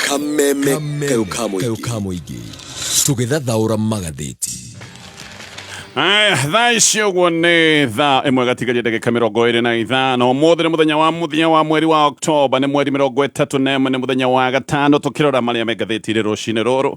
kameme kayo kamoigi tũgĩthathaũra magathĩti Aya, thaa ici ũguo nĩ thaa ĩmwe gatigaria ndagĩka mĩrongo ĩrĩ na ithano ũmũthĩ nĩ mũthenya wa mũthia wa mweri wa oktoba nĩ mweri mĩrongo ĩtatũ na ĩmwe nĩ mũthenya wa gatano tũkĩrora marĩa me ngathĩti-inĩ rũcinĩ rũrũ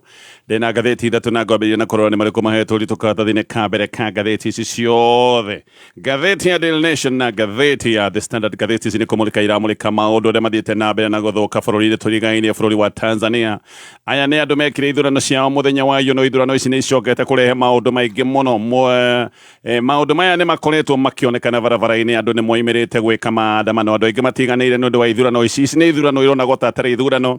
ndĩ na ngathĩti ithatũ na ngwambĩrĩria na kũrora nĩ marĩkũ mahetwo ũritũ karatathi-inĩ ka mbere ka ngathĩti ici ciothe Ngathĩti ya Daily Nation na ngathĩti ya The Standard ngathĩti ici nĩ kũmũrĩka iramũrĩka maũndũ arĩa mathiĩte na mbere na gũthũka bũrũri-inĩ tũrigainie bũrũri wa Tanzania aya nĩ andũ mekire ithurano ciao mũthenya wa iyo no ithurano ici nĩ icokete kũrehe maũndũ maingĩ mũno Mwe- eh, maũndũ maya nĩ makoretwo makĩonekana barabara-inĩ andũ nĩ moimĩrĩte gwĩka maandamano andũ aingĩ matiganĩire nĩ ũndũ wa ithurano ici ici nĩ ithurano ironagwo ta atarĩ ithurano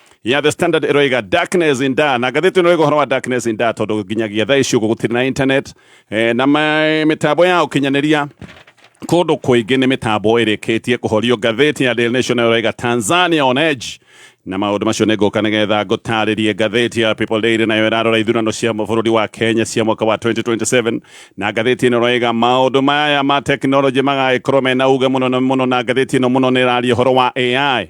ya the standard ĩroiga darkness in da na ngathĩti ĩno ĩroiga ũhoro wa darkness in da tondũ nginyagia thaa ici ũguo gũtirĩ na internet eh, na ma- mĩtambo ya ũkinyanĩria kũndũ kũingĩ nĩ mĩtambo ĩrĩkĩtie kũhorio ngathĩti ya Daily Nation ĩroiga Tanzania on edge na maũndũ macio nĩ ngũka nĩgetha ngũtarĩrie ngathĩti ya People Daily nayo ĩrarora ithurano cia bũrũri wa Kenya cia mwaka wa 2027 na ngathĩti ĩno ĩroiga maũndũ maya ma tekinoronjĩ magagĩkorwo mena uge mũno na mũno na ngathĩti ĩno mũno nĩ ĩraria ũhoro wa AI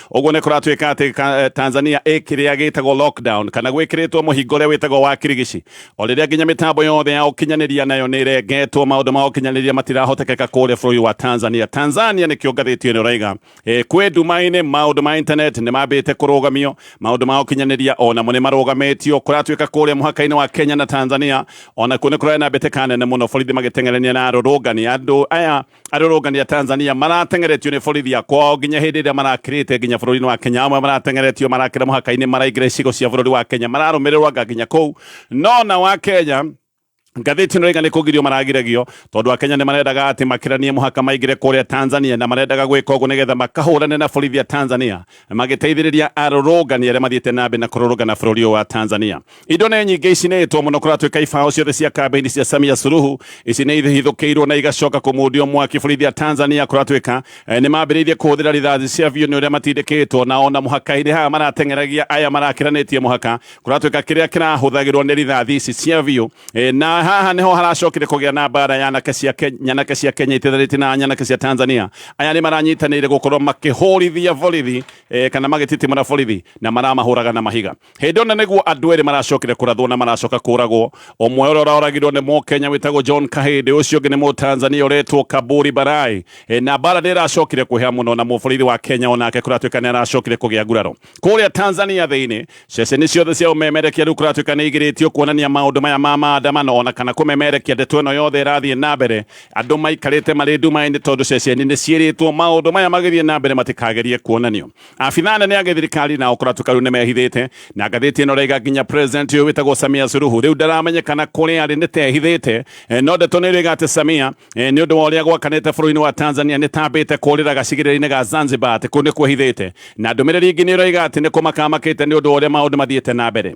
Ũguo nĩ kũratuĩka atĩ ka- eh, Tanzania ĩ kĩrĩa gĩtagwo lockdown kana gwĩkĩrĩtwo mũhingo ũrĩa wĩtagwo wa kirigici o rĩrĩa nginya mĩtambo yothe ya ũkinyanĩria nayo nĩ ĩrengetwo maũndũ ma ũkinyanĩria matirahotekeka kũrĩa bũrũri wa Tanzania Tanzania nĩ kĩongathĩtio nĩ ũraiga Eh, kwĩ nduma-inĩ maũndũ ma internet nĩ mambĩte kũrũgamio maũndũ ma ũkinyanĩria o namo nĩ marũgamĩtio kũratuĩka kũrĩa mũhaka-inĩ wa Kenya na Tanzania ona kuo nĩ kũrarĩ na mbĩtĩka nene mũno borithi magĩteng'erania na arũrũngani andũ aya arũrũngani a tanzania maratengeretio nĩ borithi ya kwao nginya hĩndĩ ĩrĩa marakĩrĩte nginya bũrũri-inĩ wa kenya amwe maratengeretio marakĩra mũhaka-inĩ maraingĩra icigo cia bũrũri wa kenya mararũmĩrĩrwo anga nginya kũu no na wa kenya ngathĩti ĩno ĩigana kũgirio maragiragio tondũ akenya nĩ marendaga atĩ makĩranie mũhaka maingĩre kũrĩa tanzania na marendaga gwĩka ũguo nĩgetha makahũrane na borithi ya tanzania magĩteithĩrĩria arũrũngani arĩa mathiĩte na mbere na kũrũrũngana bũrũri ũyũ wa tanzania Indo nĩ nyingĩ icinĩtwo mũno kũratuĩka ibaũ ciothe cia kambĩini cia Samia Suluhu ici nĩ ihithũkĩirwo na igacoka kũmundio mwaki borithi a Tanzania kũratuĩka eh, nĩ mambĩrĩirie kũhũthĩra rithathi cia biũ nĩ ũrĩa matindĩkĩtwo na ona mũhaka-inĩ haha marateng'eragia aya marakĩranĩtie mũhaka kũratuĩka kĩrĩa kĩrahũthagĩrwo nĩ rithathi ici cia biũ Eh, na haha nĩho haracokire kũgĩa na mbara ya anake cia Ke- nyanake cia Kenya itiranĩtie na nyanake cia Tanzania aya nĩ maranyitanĩire gũkorwo makĩhũrithia borithi eh, kana magĩtitimũra borithi na maramahũraga na mahiga Hĩndĩ ona nĩguo andũ erĩ maracokire kũrathwo na maracoka kũragwo ũmwe ũrĩa ũroragirwo nĩ mũkenya wĩtagwo John Kahĩndĩ ũcio ũngĩ nĩ mũtanzania ũretwo Kaburi Barai e, na mbara nĩ ĩracokire kwĩha mũno na mũborithi wa Kenya onake kũratuĩka nĩ aracokire kũgĩa nguraro kũrĩa Tanzania thĩinĩ ceceni ciothe cia ũmemerekia rĩu kũratuĩka nĩ igirĩtio kuonania maũndũ maya ma maandamano ona kana kũmemerekia ndeto ĩno yothe ĩrathiĩ na mbere andũ maikarĩte marĩ nduma-inĩ tondũ ceceni nĩ ciĩrĩtwo maũndũ maya magĩthiĩ na mbere matikagerie kuonanio Abitha anene a gĩthirikari nao kũratũka rĩu nĩmehithĩte na ngathĩti ĩno raiga nginya president ũyũ wĩtagwo Samia Suluhu rĩu ndaramenyekana kũrĩa arĩ nĩtehithĩte eh, no ndeto nĩrĩga atĩ Samia eh, nĩ ũndũ wa ũrĩa gwakanĩte bũrũri-inĩ wa Tanzania nĩtambĩte kũrĩra gacigĩrĩra-inĩ ga Zanzibar atĩ kũu nĩkwehithĩte na ndũmĩrĩri ingĩ nĩraiga atĩ nĩkũmakamakĩte nĩ ũndũ wa ũrĩa maũndũ mathiĩte na mbere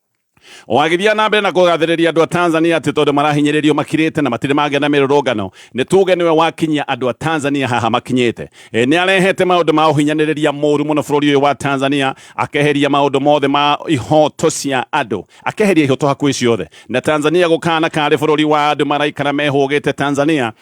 O agĩthiaga na mbere na kũgathĩrĩria andũ a Tanzania atĩ tondũ marahinyĩrĩrio makirĩte na matirĩ mangĩa na mĩrũrũngano, nĩ tuge nĩwe wakinyia andũ a Tanzania haha makinyĩte. E, nĩ arehete maũndũ ma ũhinyanĩrĩria mũru mũno bũrũri ũyũ wa Tanzania, akeheria maũndũ mothe ma ihoto cia andũ, akeheria ihoto hakuhĩ ciothe, na Tanzania gũkana karĩ bũrũri wa andũ maraikara mehũgĩte Tanzania,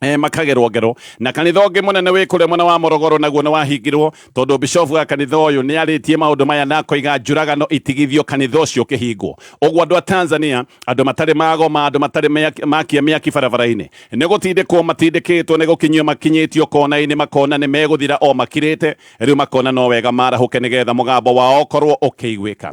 Eh, makagerwo ngero na kanitha ũngĩ mũnene wĩ kũrĩa mwena wa morogoro naguo nĩ wahingirwo tondũ bishofu wa kanitha ũyũ nĩ arĩtie maũndũ maya na koiga njũragano itigithio kanitha ũcio ũkĩhingwo ũguo andũ a tanzania andũ matarĩ magoma andũ matarĩ makia mĩaki barabara-inĩ nĩ gũtindĩkwo matindĩkĩtwo nĩ gũkinyio makinyĩtio kona-inĩ makona nĩ megũthira o makirĩte rĩu makona no wega marahũke nĩgetha mũgambo wao ũkorwo ũkĩiguĩka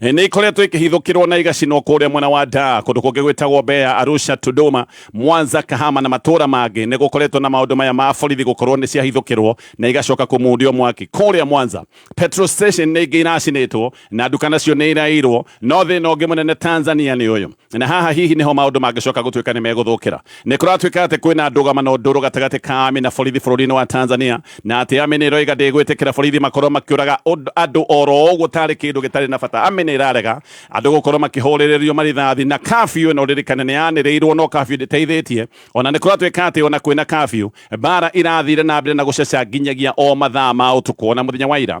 nä ikoretwo ikihithukirwo na igacinwo kũrĩa mwena wa Dar kũndũ kũngĩ gwĩtagwo Mbeya, Arusha, Tunduma, Mwanza, Kahama na matũra mangĩ nĩ gũkoretwo na maũndũ maya ma borithi gũkorwo nĩ ciahithũkĩrwo na igacoka kũmundio mwaki. Kũrĩa Mwanza, petrol station nĩ ingĩ iracinĩtwo na nduka nacio nĩ iraiyirwo. No thĩna ũngĩ mũnene Tanzania nĩ ũyũ, na haha hihi nĩho maũndũ mangĩcoka gũtuĩka nĩ megũthũkĩra nĩ kũratuĩka atĩ kwĩna ndũgamano ndũrũ gatagatĩ ka ami na borithi bũrũri-inĩ wa tanzania na atĩ ami nĩ ĩroiga ndĩgwĩtĩkĩra borithi makorwo makĩũraga ũnd- andũ oro ũguo tarĩ kĩndũ gĩtarĩ na bata ami nĩ ĩrarega andũ gũkorwo makĩhũrĩrĩrio marithathi na kabiũ ĩno ririkane nĩ yanĩrĩirwo no kabiũ ndĩteithĩtie ona nĩ kũratuĩka atĩ ona kwĩna kabiũ mbara irathire na mbere na gũceca nginyagia o mathaa ma ũtukũ ona mũthenya wa ira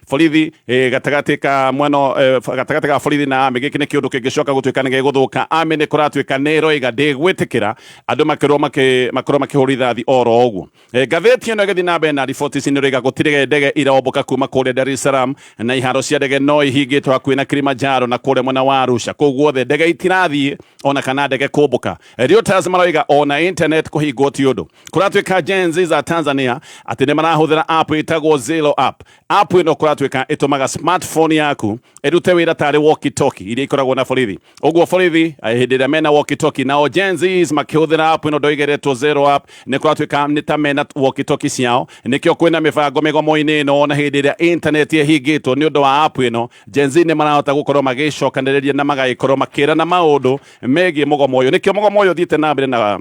borithi eh, gatagatĩ ka mwena eh, gatagatĩ ka borithi na ame gĩkĩ nĩ kĩũndũ kĩngĩcoka gũtuĩka nĩ gĩgũthũka ame nĩ kũratuĩka nĩ ĩroiga ndĩgwĩtĩkĩra andũ makorwo makĩ- makorwo makĩhũrwo rithathi oro ũguo Eh, ngathĩti ĩno ĩgĩthiĩ na mbere na riboti ici nĩ ĩroiga gũtirĩ ndege iraombũka kuma kũrĩa Dar es Salaam na iharo cia ndege no ihingĩtwo hakuhĩ na Kilimanjaro na kũrĩa mwena wa Arusha kũu guothe ndege itirathiĩ ona kana ndege kũmbũka Eh, Reuters maroiga ona internet kũhingwo ti ũndũ kuratuika Gen Z za Tanzania ati ni marahuthira app itagwo Zero app app ino kuratuika itumaga smartphone yaku irute wira tari walkie talkie iria ikoragwo na borithi uguo borithi eh, hindi iria mena walkie talkie nao Gen Z makihuthira app ino ndoigeretwo Zero app ni kuratuika ni ta mena walkie talkie ciao nikio kwina mibango migomo-ini ino na hindi iria internet ihingitwo ni undu wa app ino Gen Z ni marahota gukorwo magicokaniriria na magaikorwo makirana maundu megie mugomo uyu nikio mugomo uyu thiite na mbere na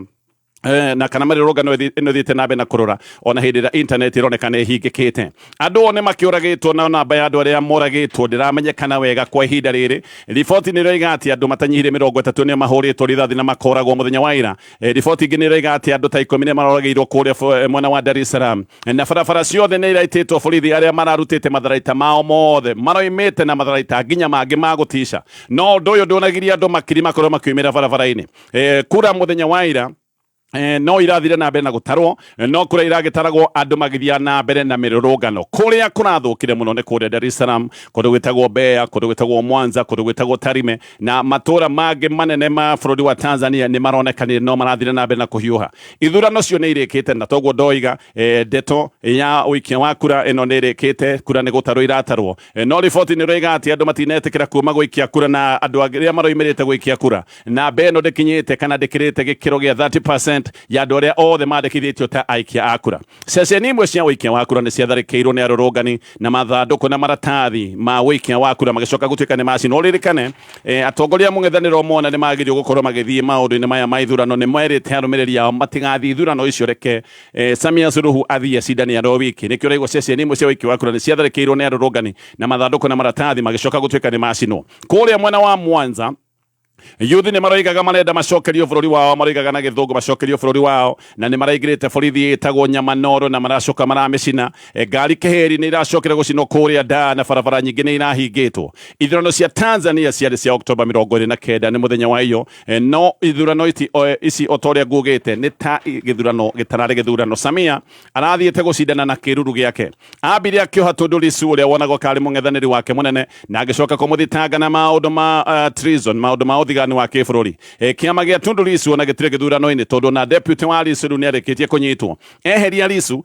Eh, na kana marirũrũngano ĩno ĩthiĩte na mbere na kũrũra ona hĩndĩ ĩrĩa intaneti ĩroneka nĩ ĩhingĩkĩte andũ one makĩũragĩtwo na namba ya andũ arĩa moragĩtwo ndĩramenyekana wega kwa ihinda rĩrĩ riboti nĩ ĩroiga atĩ andũ matanyihire mĩrongo ĩtatũ nĩ mahũrĩtwo rithathi na makoragwo mũthenya wa ira eh, riboti ingĩ nĩ ĩroiga atĩ andũ ta ikũmi nĩ maroragĩirwo kũrĩa eh, mwena wa Dar es Salaam na barabara ciothe nĩ iraitĩtwo borithi arĩa mararutĩte matharaita mao mothe maroimĩte na matharaita nginya mangĩ ma gũtica no ũndũ ũyũ ndũnagiria andũ makiri makorwo makiumĩra barabara-inĩ eh, kura muthenya wa ira Eh, no irathire na mbere na gutarwo eh, no kuria iragitaragwo andu magithia na mbere na mirurungano kuria kurathukire muno ni kuria Dar es Salaam kundu gwitagwo Mbeya kundu gwitagwo Mwanza kundu gwitagwo Tarime na matura mangi manene ma bururi wa Tanzania ni maronekanire no marathire na mbere na kuhiuha ithurano cio ni irikite na toguo ndoiga eh, ndeto ya uikia wa kura ino ni irikite kura ni gutarwo iratarwo No riboti nĩroiga atĩ andũ matinetĩkĩra kuuma gũikia kura na andũ arĩa maroimĩrĩte gũikia kura. Namba ĩno ndĩkinyĩte kana ndĩkĩrĩte gĩkĩro gĩa 30% ya andũ arĩa othe mandĩkithĩtio ta aikia a kura. Ceceni imwe cia ũikia wa kura nĩciatharĩkĩirwo nĩ arũrũngani na mathandũkũ na maratathi ma ũikia wa kura magĩcoka gũtuĩka nĩmacinwo. Ũririkane atongoria a mũng'ethanĩro mona nĩmagĩrĩirwo gũkorwo magĩthiĩ maũndũ-inĩ maya ma ithurano nĩmerĩte arũmĩrĩri ao matigathiĩ ithurano icio reke Eh, Samia Suluhu athiĩ acindane aro wiki nĩkĩo ũraigua ceceni imwe cia wiki wa kura nĩ ciatharĩkĩirwo nĩ arũrũngani na mathandũkũ na maratathi magĩcoka gũtuĩka nĩ macinwo kũrĩa mwena wa Mwanza Yuthi nä maroigaga marenda macokerio bå rå ri wao maroigaga na gä thå ngå macokerio bå rå ri wao na nä maraingä te borithi ĩtagwo nyamanoro na maracoka maramä cina e, ngari kä heri nä iracokire gå cinwo kå rä a ndaa na barabara nyingä nä irahingä two ithurano cia tanzania ciarä cia oktoba mä rongo ä rä na kenda nä må thenya wa iyo Eh, no ithurano ici o- ici o ta ũrĩa nguugĩte nĩ ta gĩthurano gĩtararĩ gĩthurano samia arathiĩte gũcindana na kĩruru gĩake ambire akĩoha tũndũ lisu ũrĩa wonagwo karĩ mũng'ethanĩri wake mũnene na agĩcoka kũmũthitanga na maũndũ ma uh, treason maũndũ ma ũthigani wa kĩbũrũri e, kĩama gĩa tundu lisu ona gĩtirĩ gĩthurano-inĩ tondũ na deputy wa lisu rĩu nĩarĩkĩtie kũnyitwo eheria lisu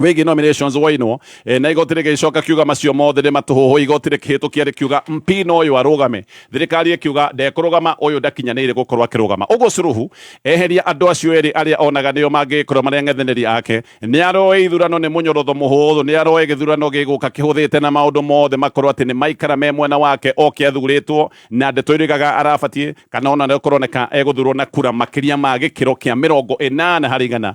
wĩgiĩ nominations wainwo e, na igoti rĩgĩcoka kiuga macio mothe nĩ matũhũhũ igoti rĩkĩhĩtũkia rĩkiuga mpina ũyũ arũgame thirikari ĩkiuga ndekũrũgama ũyũ ndakinyanĩire gũkorwo akĩrũgama ũguo curuhu eheria andũ acio erĩ arĩa onaga nĩo mangĩgĩkorwo marĩ ang'ethanĩri ake nĩ aroe ithurano nĩ mũnyorotho mũhũthũ nĩ aroe gĩthurano gĩgũka kĩhũthĩte na maũndũ mothe makorwo atĩ nĩ maikara me mwena wake oke athurĩtwo na ndeto irigaga arabatiĩ kana ona nĩkorwo nĩka egũthurwo na kura makĩria ma gĩkĩro kĩa mĩrongo ĩnana harĩ igana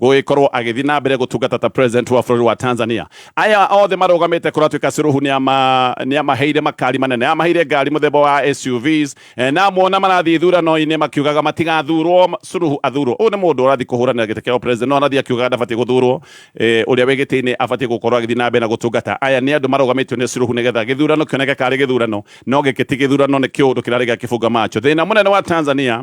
gũgĩkorwo agĩthiĩ na mbere gũtungata ta president wa bũrũri wa Tanzania aya othe marũgamĩte kũratuĩka Suluhu nĩ ama- nĩ amaheire makari manene amaheire ngari mũthemba wa SUVs eh, na muona marathiĩ ithurano-inĩ makiugaga matigathurwo ma- Suluhu athurwo ũyũ nĩ mũndũ ũrathiĩ kũhũranĩra gĩtĩ kĩa president no arathiĩ akiugaga ndabatiĩ gũthurwo eh, ũrĩa wĩ gĩtĩ-inĩ abatiĩ gũkorwo agĩthiĩ na mbere na gũtungata aya nĩ andũ marũgamĩtio nĩ Suluhu nĩgetha gĩthurano kĩoneke karĩ gĩthurano no gĩkĩ ti gĩthurano nĩ kĩũndũ kĩrarĩ gĩa kĩbunga macho thĩna mũnene wa Tanzania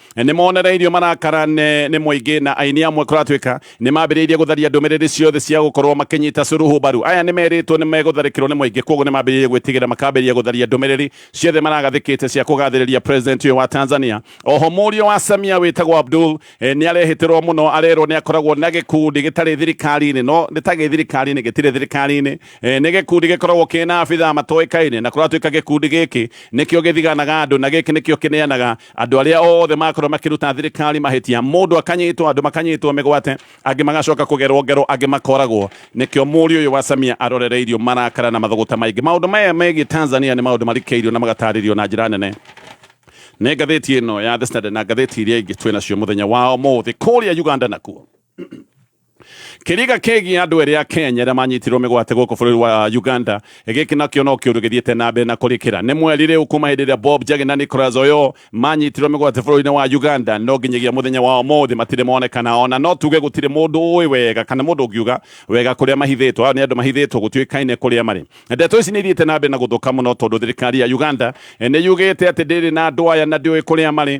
nĩ monereirio marakara nĩ nĩ mũingĩ na aini amwe kũratuĩka nĩ mambĩrĩirie gũtharia ndũmĩrĩri ciothe cia gũkorwo makĩnyita Suluhu mbaru aya nĩ merĩtwo nĩ megũtharĩkĩrwo nĩ mũingĩ koguo nĩ mambĩrĩirie gwĩtigĩra makambĩrĩria gũtharia ndũmĩrĩri ciothe maragathĩkĩte cia kũgathĩrĩria president ũyũ wa Tanzania oho mũriũ wa Samia wĩtagwo Abdul eh, nĩ arehĩtĩrwo mũno arerwo nĩ akoragwo na gĩkundi gĩtarĩ thirikari-inĩ no nĩ ta gĩ thirikari-inĩ gĩtirĩ thirikari-inĩ eh, nĩ gĩkundi gĩkoragwo kĩna abithaa matoĩkaine na kũratuĩka gĩkundi gĩkĩ nĩkĩo gĩthiganaga andũ na gĩkĩ nĩkĩo kĩneanaga Andũ arĩa othe makorwo makĩruta thirikari mahĩtia, mũndũ akanyitwo, andũ makanyitwo mĩgwate, angĩ magacoka kũgerwo ngero, angĩ makoragwo. Nĩkĩo mũriũ ũyũ wa Samia arorereirio marakara na mathũgũta maingĩ. Maũndũ maya megiĩ Tanzania nĩ maũndũ marikĩirio na magatarĩrio na njĩra nene nĩ ngathĩti ĩno ya The Standard na ngathĩti iria ingĩ twĩ nacio mũthenya wa ũmũthĩ. Kũrĩa Uganda nakuo. Kĩriga kĩgiĩ andũ erĩ a Kenya arĩa manyitirwo mĩgwate gũkũ bũrũri wa Uganda gĩkĩ nakĩo no kĩũndũ gĩthiĩte na mbere na kũrĩkĩra nĩ mweri rĩu kuma hĩndĩ ĩrĩa Bob Njagi na Nicholas Oyoo manyitirwo mĩgwate bũrũri-inĩ wa Uganda no nginyagia mũthenya wa ũmũthĩ matirĩ monekana ona no tuge gũtirĩ mũndũ ũĩ wega kana mũndũ ũngiuga wega kũrĩa mahithĩtwo aya nĩ andũ mahithĩtwo gũtuĩkaine kũrĩa marĩ ndeto ici nĩ ithiĩte na mbere na gũthũka mũno tondũ thirikari ya Uganda eh, nĩ yugĩte atĩ ndĩrĩ na andũ aya na ndĩũĩ kũrĩa marĩ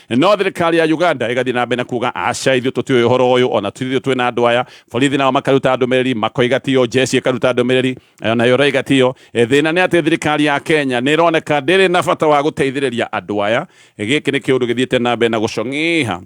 no thirikari ya Uganda ĩgathiĩ na mbere na kuga aca ithuĩ tũtiũĩ ũhoro ũyũ ona tũthiĩ twĩ na andũ aya borithi nao makaruta ndũmĩrĩri makoiga tiyo jeshi ĩkaruta ndũmĩrĩri eh, nayo raiga tiyo eh, thĩna nĩ atĩ thirikari ya Kenya nĩ ĩroneka ndĩrĩ na bata wa gũteithĩrĩria andũ aya eh, gĩkĩ nĩ kĩũndũ gĩthiĩte na mbere na gũcong'iha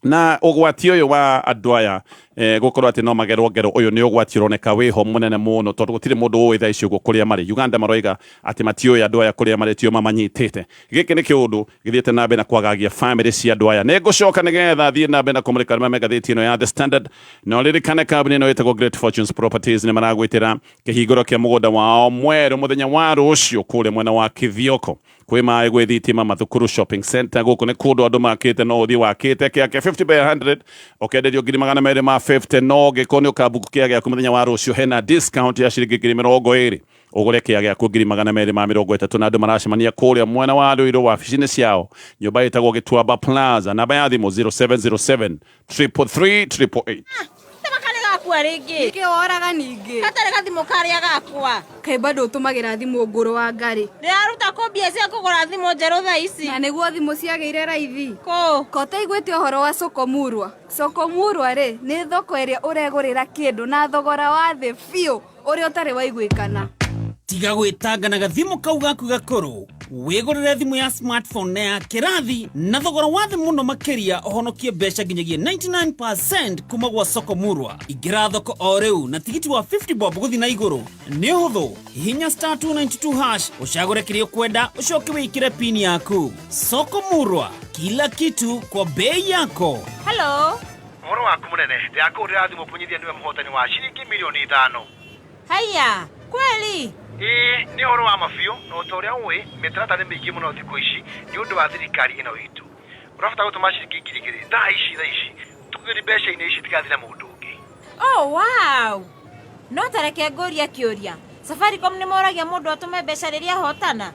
na ũgwati ũyũ wa andũ aya eh, gũkorwo atĩ no magerwo ngero ũyũ nĩ ũgwati ũroneka wĩho mũnene mũno tondũ gũtirĩ mũndũ ũĩ thaa ici ũguo kũrĩa marĩ uganda maroiga atĩ matiũĩ andũ aya kũrĩa marĩ tio mamanyitĩte gĩkĩ nĩ kĩũndũ githiĩte na mbere na kwagagia famĩlĩ cia andũ aya nĩ ngũcoka nĩgetha thiĩ na mbere na kũmũrĩka arĩa me ngathĩti ĩno ya The Standard no ririkane kambuni ĩno ĩtagwo Great Fortunes Properties nĩ maragwĩtĩra kĩhingũro kĩa mũgũnda wao mwerũ mũthenya wa rũciũ kũrĩa mwena wa Kithioko kwĩ maĩ gwĩ thitima mathukuru shopping center gũkũ nĩ kũndũ andũ makĩte no ũthiĩ wakĩte kĩake 50 by 100 ũkenderio ngiri magana merĩ ma 50 no gĩko nĩ ũkambuku kĩa gĩaku mũthenya wa rũciũ hena discount ya ciringi ngiri mĩrongo ĩrĩ ũgũre kĩa gĩaku ngiri magana merĩ ma mĩrongo ĩtatũ na andũ maracemania kũrĩa mwena wa rũirũ wabici-inĩ ciao nyũmba ĩtagwo gĩtuamba plaza namba ya thimũ 0707 333 888 Tama karĩ gakua rĩngĩ. Nĩkĩ woraga ningĩ? Gatarĩ gathimũ karĩa gakwa. Kaĩ bado ũtũmagĩra thimũ ngũrũ wa ngarĩ. Ndĩraruta kũ mbia cia kũgũra thimũ njerũ thaa ici. Na nĩguo thimũ ciagĩire raithi. Kũ? Ko ũtaiguĩte ũhoro wa Sokomurwa? Sokomurwa rĩ, nĩ thoko ĩrĩa ũregũrĩra kĩndũ na thogora wa thĩ biũ. ũrĩa ũtarĩ waiguĩkana tiga gwĩtanga na gathimũ kau gaku gakũrũ wĩgũrĩre thimũ ya smartphone na ya kĩrathi na thogora wa thĩ mũno makĩria ũhonokie mbeca nginyagia 99 kuma gwa soko murwa ingĩra thoko o rĩu na tigiti wa 50 bob gũthi na igũrũ nĩ ũhũthũ hihinya star 292 hash ũcagũre kĩrĩa ũkwenda ũcoke wĩkĩre pini yaku soko murwa kila kitu kwa bei yako Hello. Ũhoro waku mũnene. Ndĩrakũhũrĩra thimũ kũmenyithia nĩwe mũhotani wa ciringi mirioni ithano. Haiya! Kweli? Ĩĩ, nĩ ũhoro wa ma biũ, na o ta ũrĩa ũĩ, mĩtaratara nĩ mĩingĩ mũno thikũ ici nĩ ũndũ wa thirikari ĩno itũ. Ũrabatara gũtũma ciringi ngiri igĩrĩ thaa ici, thaa ici. Tũgĩri mbeca-inĩ ici itigathiĩ na mũndũ ũngĩ. Oh, wow! No ta reke ngũrie kĩũria, Safaricom nĩ moragia mũndũ atũme mbeca rĩrĩa ahotana?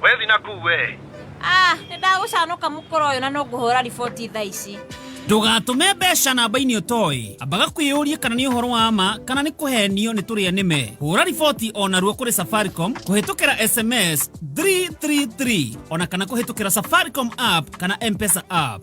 Wethi na kuu we. Ah, nĩ ndagũcanũka mũkora ũyũ na no ngũhũra riboti thaa ici. Ndũgatũme mbeca namba-inĩ ũtoĩ. Ambaga kwĩyũria kana nĩ ũhoro wa ma kana nĩ kũhenio nĩ tũrĩa nĩme. Hũra riboti o naruo kũrĩ Safaricom kũhĩtũkĩra SMS 333 ona kana kũhĩtũkĩra Safaricom app kana M-Pesa app.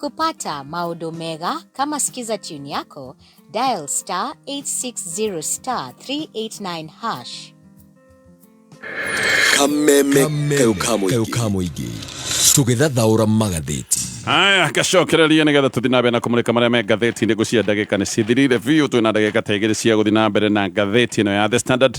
Kupata maodo mega kama sikiza tune yako, dial star 860 star 389 hash. kameme keukamuigi tũgĩthathaũra magathĩti haya gacokereria nĩgetha tũthi na mbere na kũmũrĩka marĩa me ngathĩti-inĩ ngũcia ndagĩka nĩ cithirire biũ twĩna ndagĩka ta igĩrĩ cia gũthi na mbere na ngathĩti ĩno ya the standard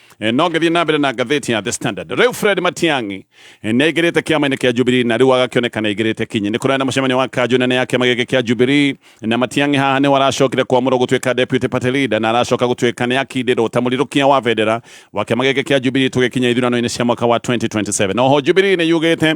Eh, no ngĩthiĩ na mbere na ngathĩti ya The Standard rĩu Fred Matiang'i eh, nĩ aingĩrĩte kĩama-inĩ kĩa Jubilee na rĩu agakĩoneka nĩ aingĩrĩte kinyi nĩ kũraya na mũcemanio wa kanjũ nene ya kĩama gĩkĩ kĩa Jubilee na Matiang'i haha nĩho aracokire kwamũrwo gũtuĩka deputy party leader na aracoka gũtuĩka nĩ akindĩrwo ta mũrirũkia wa bendera wa kĩama gĩkĩ kĩa Jubilee tũgĩkinya ithurano-inĩ cia mwaka wa 2027 na oho Jubilee nĩ yugĩte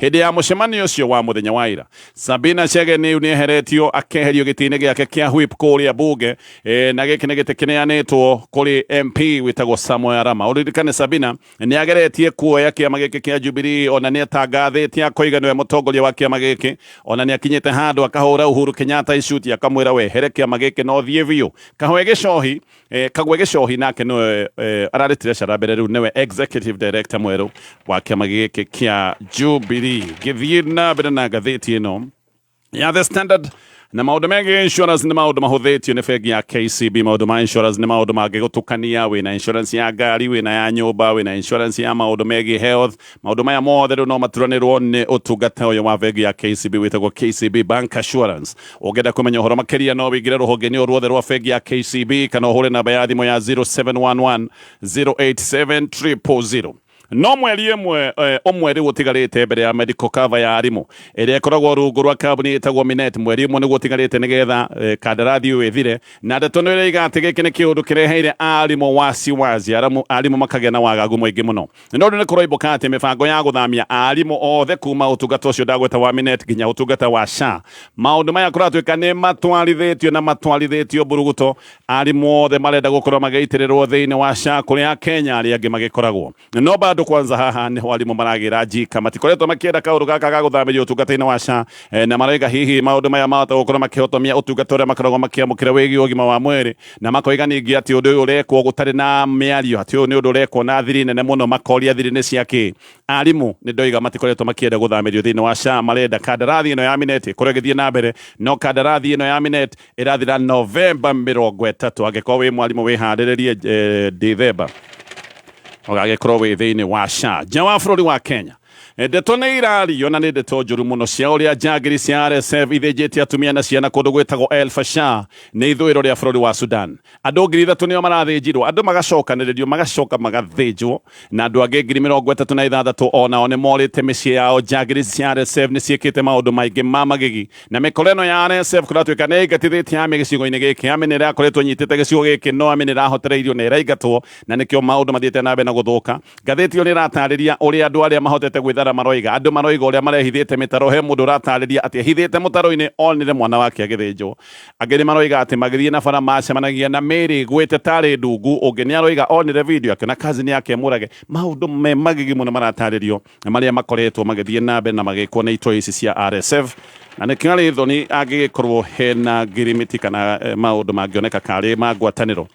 Hĩndĩ ya mũcemanio ũcio wa mũthenya wa ira, Sabina Chege nĩ eheretio akeherio gĩtĩ-inĩ gĩake kĩa whip kũrĩa bunge e, na gĩkĩ nĩ gĩtĩ kĩneanĩtwo kũrĩ MP wĩtagwo Samuel Arama. Ũririkane Sabina nĩ ageretie kuoya kĩama gĩkĩ kĩa Jubilee, ona nĩ atangathĩte akoiga nĩwe mũtongoria wa kĩama gĩkĩ, ona nĩ akinyĩte handũ akahũra Uhuru Kenyatta icuti akamwĩra wehere kĩama gĩkĩ na ũthiĩ biũ. Kahoe gĩcohi Eh, kagwe gĩcohi nake nĩwe eh, araretire cara mbere rĩu nĩwe executive director mwerũ wa kĩama gĩkĩ kĩa Jubilee gĩthiĩ na mbere na ngathĩti ĩno ya the standard na maundu megiä insurance nä maundu mahå nä bengi ya kcb maundu ma insurance nä maundu mangä gå tukania wä na insurance ya ngari wä na ya nyå mba wä na insurance ya maundu megiä health maũndũ maya mothe rĩu no maturanĩrwo nĩ ũtungata ũyũ wa bengi ya KCB wĩtagwo KCB Bank Assurance ũngĩenda kũmenya ũhoro makĩria no wĩingĩre rũhonge-inĩ o ruothe rwa bengi ya KCB kana ũhũre namba ya thimũ ya 0711 087 000 no mweri ĩmwe eh, ũmwe rĩu ũtigarĩte mbere ya medical cover ya arimũ ĩrĩa ĩkoragwo rungu rwa kambuni ĩtagwo minet mweri ũmwe nĩguo ũtigarĩte nĩgetha eh, kandarathi ũyũ ĩthire na ndeto nĩ ĩroiga atĩ gĩkĩ nĩ kĩũndũ kĩreheire arimũ wasiwasi aramu arimũ makagĩa na wagagu mũingĩ mũno No rĩu nĩ kũroimbũka atĩ mĩbango ya gũthamia aarimũ othe kuma ũtungata ũcio ndagweta wa Minet nginya ũtungata wa SHA, maũndũ maya kũratuĩka nĩ matwarithĩtio na matwarithĩtio mburuguto, aarimũ othe marenda gũkorwo magĩitĩrĩrwo thĩinĩ wa SHA kũrĩa Akenya arĩa angĩ magĩkoragwo. No bado kwanza haha nĩho aarimũ maragĩra njika, matikoretwo makĩenda kaũndũ gaka ga gũthamĩrio ũtungata-inĩ wa SHA, na maroiga hihi maũndũ maya mahota gũkorwo makĩhotomia ũtungata ũrĩa makoragwo makĩamũkĩra wĩgiĩ ũgima wa mwĩrĩ, na makoiga ningĩ atĩ ũndũ ũyũ ũrekwo gũtarĩ na mĩario atĩ ũyũ nĩ ũndũ ũrekwo na thiri nene mũno makoria thiri nĩ ciakĩ arimũ nĩ ndoiga matikoretwo makĩenda gũthamĩrio thĩinĩ wa SHA marenda kandarathi ĩno ya minet ĩkorwo ĩgĩthiĩ na mbere no kandarathi ĩno ya minet ĩrathira novemba mĩrongo ĩtatũ angĩkorwo wĩ mwarimũ wĩharĩrĩrie eh, ndithemba ũgagĩkorwo wĩ thĩinĩ wa SHA nja wa bũrũri wa Kenya Ndeto nĩ irario na nĩ ndeto njũru mũno cia ũrĩa njangiri cia RSF ithĩnjĩte atumia na ciana kũndũ gwĩtagwo El Fasher nĩ ithũĩro rĩa bũrũri wa Sudan. Andũ ngiri ithatũ nĩo marathĩnjirwo, andũ magacokanĩrĩrio, magacoka magathĩnjwo, na andũ angĩ ngiri mĩrongo ĩtatũ na ithathatũ o nao nĩ morĩte mĩciĩ yao. Njangiri cia RSF nĩ ciĩkĩte maũndũ maingĩ ma magigi, na mĩkora ĩno ya RSF kũratuĩka nĩ ĩingatithĩtie army gĩcigo-inĩ gĩkĩ. Army nĩ ĩrakoretwo ĩnyitĩte gĩcigo gĩkĩ, no army nĩ ĩrahotereirio na ĩraingatwo na nĩkĩo maũndũ mathiĩte na mbere na gũthũka. Ngathĩti ĩyo nĩ ĩrataarĩria ũrĩa andũ arĩa mahotete gwĩthara maroiga. Andũ maroiga ũrĩa marehithĩte mĩtaro. He mũndũ ũrataarĩria atĩ ehithĩte mũtaro-inĩ onire mwana wake agĩthĩnjwo. Angĩ nĩ maroiga atĩ magĩthiĩ na bara macemanagia na mĩĩrĩ ĩgwĩte tarĩ ndungu. Ũngĩ nĩ aroiga onire video akĩona cousin yake e mũrage. Maũndũ me magigi mũno marataarĩrio. marĩa makoretwo magĩthiĩ na mbere na magĩkwo nĩ itoi ici cia RSF na nĩ kĩarĩ thoni angĩgĩkorwo hena ngirimiti kana eh, maũndũ mangĩoneka karĩ ma ngwatanĩro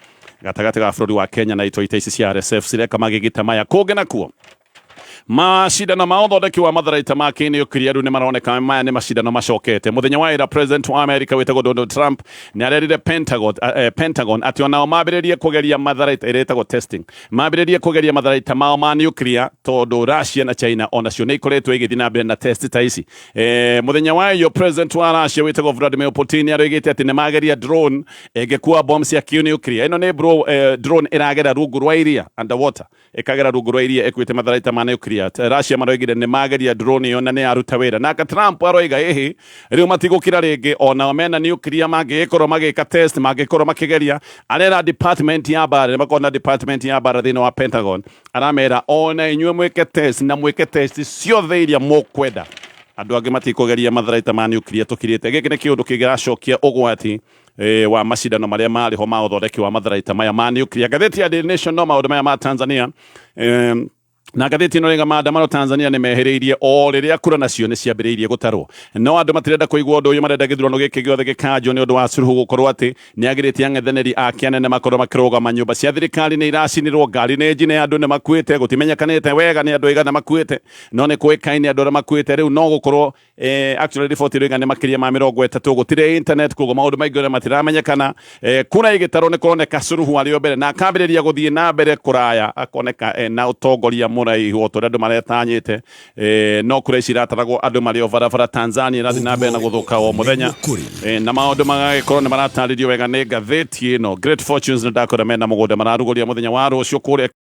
gatagatĩ ga bũrũri wa Kenya na itoi ta ici cia RSF cireka magĩgita maya kũngĩ nakuo macindano ma ũthondeki wa matharaita ma kĩnĩ ũkiria rĩu nĩ maroneka maya nĩ macindano macokete mũthenya wa ĩra president wa america wĩtagwo donald trump nĩ arerire pentagon, uh, pentagon atĩ onao mambĩrĩrie kũgeria matharaita ĩrĩa ĩtagwo testing Mambĩrĩrie kũgeria matharaita mao ma nuclear tondũ Russia na China onacio nĩ ikoretwo igĩthiĩ na mbere na test ta ici. E, muthenya wa iyo president wa Russia wĩtagwo Vladimir Putin arĩgĩte atĩ nĩ mageria drone ĩngĩkua bomb cia nuclear. Ĩno nĩ bro, e, drone ĩragera rungu rwa iria underwater ĩkagera rungu rwa iria ĩkuĩte matharaita ma nuclear. Russia maroigire nĩ mageria drone iyo na nĩ yaruta wĩra. Nake Trump aroiga ĩhĩ Rĩu matigũkira rĩngĩ o nao mena nuclear mangĩgĩkorwo magĩka test mangĩkorwo makĩgeria arera department ya bara nĩ makona department ya bara thĩinĩ wa Pentagon aramera o na inyuĩ mwĩke test na mwĩke test ciothe iria mũkwenda andũ angĩ matikũgeria matharaita ma nuclear tũkirĩte gĩkĩ nĩ kĩũndũ kĩngĩracokia ũgwati eh, wa macindano marĩa marĩ ho ma ũthondeki wa matharaita maya ma nuclear ngathĩti ya Daily Nation no maũndũ maya ma Tanzania eh, Na ngathĩti ĩno rĩga maandamano Tanzania nĩ mehĩrĩirie o rĩrĩa kura nacio nĩ ciambĩrĩirie gũtarwo no andũ matirenda kũigua ũndũ ũyũ marenda gĩthurano gĩkĩ gĩothe gĩkanjwo nĩ ũndũ wa Suluhu gũkorwo atĩ nĩ agirĩtie ang'ethanĩri ake anene makorwo makĩrũgama nyũmba cia thirikari nĩ iracinirwo ngari nĩ njine andũ nĩ makuĩte gũtimenyekanĩte wega nĩ andũ aigana makuĩte no nĩ kũĩkaine andũ arĩa makuĩte rĩu no gũkorwo eh, actually riboti ĩrĩa ĩigana nĩ makĩria ma mĩrongo ĩtatũ gũtirĩ internet koguo maũndũ maingĩ ũrĩa matiramenyekana eh, kura ĩgĩtarwo nĩ kũroneka Suluhu arĩ o mbere na akambĩrĩria gũthiĩ na mbere kũraya akoneka eh, na ũtongoria mũraihu o ta ũrĩa andũ maretanyĩte eh, no kura ici irataragwo andũ marĩ o barabara Tanzania ĩrathiĩ na mbere na gũthũka o mũthenya eh, na maũndũ magagĩkorwo nĩ maratarĩrio wega nĩ ngathĩti ĩno Great Fortunes nĩ ndakora mena mũgũnda mararugũria mũthenya wa rũciũ kũrĩa